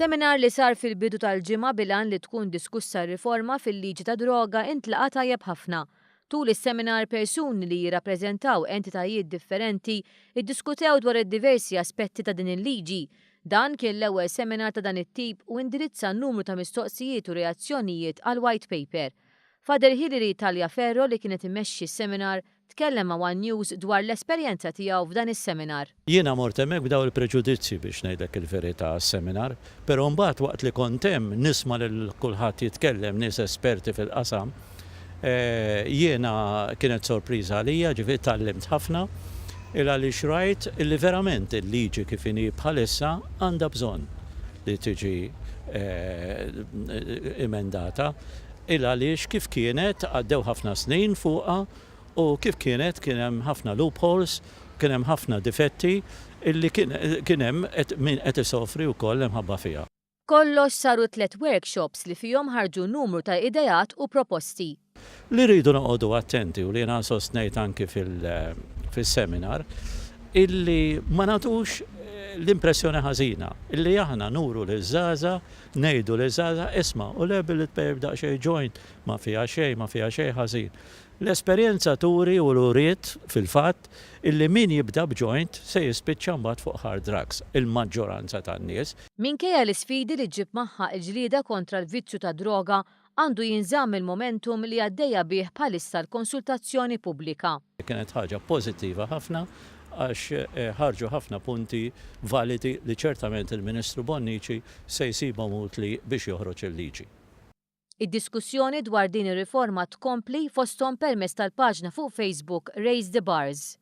Seminar li sar fil-bidu tal-ġimgħa bil-għan li tkun diskussa r-riforma fil-liġi tad-droga intlaqa' tajjeb ħafna. Tul is-seminar persuni li jirrappreżentaw entitajiet differenti ddiskutew dwar id-diversi aspetti ta' din il-liġi. Dan kien l-ewwel seminar ta' dan it-tip u indirizza numru ta' mistoqsijiet u reazzjonijiet għall-White Paper. Father Hilary Tagliaferro li kienet imexxi s-seminar Tkellem ma' one News dwar l-esperjenza tiegħu f'dan is-seminar. Jiena mort hemmhekk b'dawn il-preġudizzji biex ngħidlek il-verità għas-seminar, però mbagħad waqt li kont hemm nisma' lil kulħadd jitkellem, nies esperti fil-qasam, jiena kienet sorpriża għalija, ġifieri tgħallimt ħafna, il-għaliex rajt li verament il-liġi kif inhi bħalissa għandha bżonn li tiġi emendata. Il għaliex kif kienet għaddew ħafna snin fuqha u kif kienet kien hemm ħafna loopholes, kien hemm ħafna difetti illi kien hemm min qed isofri wkoll imħabba fiha. Kollox saru tliet workshops li fihom ħarġu numru ta' ideat u proposti. Li rridu noqogħdu attenti u li jiena sostnejt anki fis-seminar illi ma nagħtux l-impressjoni ħażina illi aħna nuru liż-żgħażagħ Ngħidu liż-żgħażagħ, isma', u l-erba' li tpejjep daqsxejn joint ma fiha xejn, ma fiha xejn ħażin. L-esperjenza turi u uriet, fil-fatt, illi min jibda b'joint se jispiċċa mbagħad fuq hard drugs, il-maġġoranza tan-nies. Minkejja l-isfidi li ġġib magħha l-ġlieda kontra l-vizzju tad-droga, għandu jinżamm il-momentum li għaddejja bih bħalissa l-konsultazzjoni pubblika. Kienet ħaġa pożittiva ħafna għax ħarġu ħafna punti validi li ċertament il-Ministru Bonnici se jsibhom utli biex joħroġ il-liġi. Id-diskussjoni dwar din ir-riforma tkompli fosthom permezz tal-paġna fuq Facebook Raise the Bars.